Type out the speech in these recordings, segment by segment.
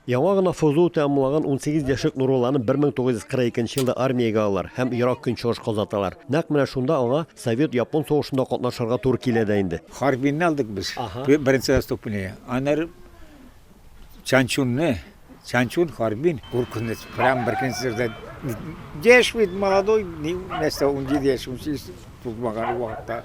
Яңа гына ФЗУ тәмамлаган унсигез яшьлек Нурулланы 1942 елда армиягә алалар һәм Ерак Көнчыгышка озаталар. Нәкъ менә шунда аңа совет-япон сугышында катнашырга туры килә дә инде. Харбинны алдык без, беренче отступнее. Аннары Чанчунны, Чанчун, Харбин, куркыныч, прямо беркөнне сөрде. Яшь бит, молодой, нәрсә, унҗиде яшь, унсигез тулмаган вакытта.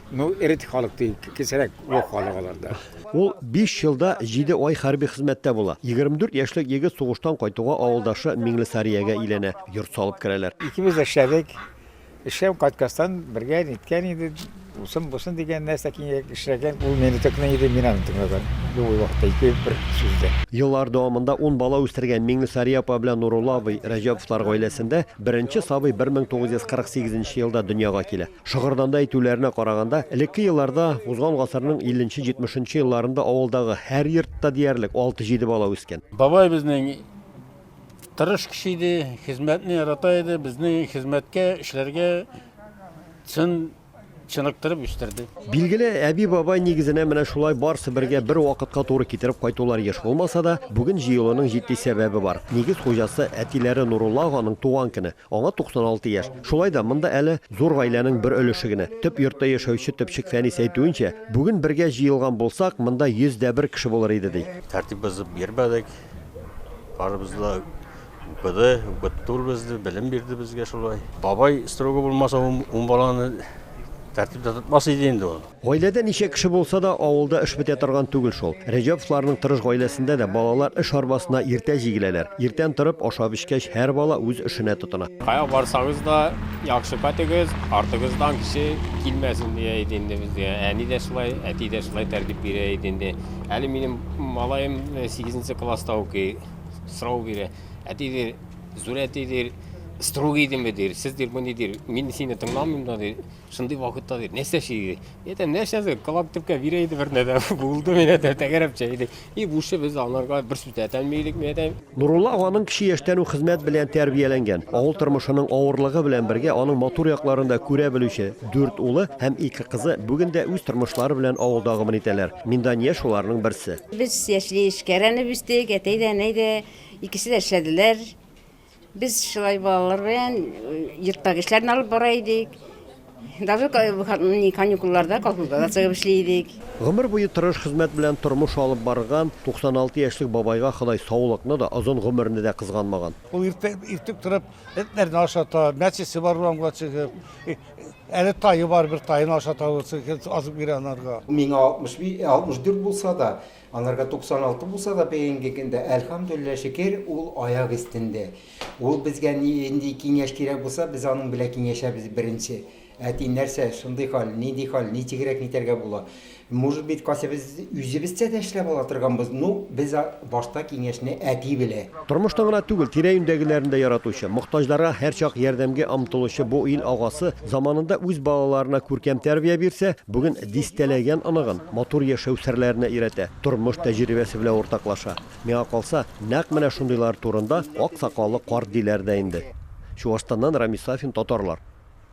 Ну, эрет халык ди, кесерәк юк халык аларда. Ул биш елда җиде ай хәрби хезмәттә була. Егерме дүрт яшьлек егет сугыштан кайтуга авылдашы Миңлесариягә өйләнә, йорт салып керәләр. Икебез дә эшләдек. Эшләп кайткастан бергә ниткән иде, усын-бусын дигән нәрсә киңәйеп эшләгән. Ул мине тыкный иде, мин аны тыңлаган. Любой вакытта ике бер сүздә. Еллар дәвамында ун бала үстергән Миңлесария апа белән Нурулла абый Рәҗәповлар гаиләсендә беренче сабый бер мең тугыз йөз кырык сигезенче елда дөньяга килә. Шыгырданда әйтүләренә караганда, элекке елларда, узган гасырның 50 нче, 70 нчы елларында авылдагы һәр йортта диярлек алты-җиде бала үскән. Бабай безнең тырыш кеше иде, хезмәтне ярата иде, безне хезмәткә, эшләргә чын чыныктырып үстерде. Билгеле, әби-бабай нигезенә менә шулай барсы бергә бер вакытка туры китереп кайтулар еш булмаса да, бүген җыелуның җитди сәбәбе бар. Нигез хуҗасы, әтиләре Нурулла аганың туган көне. Аңа 96 яшь. Шулай да монда әле зур гаиләнең бер өлеше генә. Төп йортта яшәүче төпчек Фәнис әйтүенчә, бүген бергә җыелган булсак, монда 100 дә бер кеше булыр иде, ди. Тәртип бозып йөрмәдек. Барыбыз да укыды, укытты ул безне, белем бирде безгә шулай. Бабай строгы булмаса, ун баланы тәртиптә тотмас иде инде ул. Гаиләдә ничә кеше булса да, авылда эш бетә торган түгел шул. Рәҗәповларның тырыш гаиләсендә дә балалар эш арбасына иртә җигеләләр. Иртән торып, ашап-эчкәч, һәр бала үз эшенә тотына. Кая барсагыз да, яхшы көтегез, артыгыздан кеше килмәсен, дия иде инде безгә. Әни дә шулай, әти дә шулай тәртип бирә иде инде. Әле минем малаем сигезенче класста укый. Сорау бирә. Әти, ди, зур әти, ди, строгый идеме, ди. Сез, ди, мондый, ди, мин сине тыңламыйм да, ди. Шундый вакытта бир. Нәрсә чиди? Әйтәм, нәрсәсе? Колак төпкә бирә иде бер нәрсә. Булды менә дә тәгәрәп чәйди. И бушы без анарга бер сүз әйтәмилек мәдәм. Нурулла аганың кече яшьтән үк хезмәт белән тәрбияләнгән. Авыл тормышының авырлыгы белән бергә аның матур якларын да күрә белүче дүрт улы һәм ике кызы бүген дә үз тормышлары белән авылда гомер итәләр. Миндания шуларның берсе. Без яшьли эшкәрәнеп үстек, әтәй дә, әнәй дә икесе дә эшләделәр. Без шулай балалар белән йортка эшләрне алып бара идек. Даже каникулларда колхозда да чыгып эшли идек. Гомер буе тырыш хезмәт белән тормыш алып барган 96 яшьлек бабайга Ходай саулыкны да, озын гомерне дә кызганмаган. Ул иртә иртүк торып, этләрне ашата, мәчесе бар урамга чыгып, әле тае бар, бер таен ашата, азык бирә анарга. Миңа 64 булса да, Анарга 96 булса да бегенге көндә, әлхәмдүлилләһ шөкер, ул аяк өстендә. Ул безгә ни нинди киңәш кирәк булса, без аның белән киңәшәбез беренче. Әти, нәрсә, шундый хәл, нинди хәл, ничегрәк нитәргә була? Может быть, кайсы без үзебезчә дә эшләп ала торганбыз, ну, без башта киңәшне әти белә. Тормышны гына түгел, тирә-юньдәгеләрен дә яратучы, мохтаҗларга һәрчак ярдәмгә омтылучы бу ил агасы заманында үз балаларына күркәм тәрбия бирсә, бүген дистәләгән оныгын матур яшәү серләренә өйрәтә, тормыш тәҗрибәсе белән уртаклаша. Миңа калса, нәкъ менә шундыйлар турында ак сакаллы карт диләр дә инде. Чуашстаннан Рамис Сафин, Татарлар.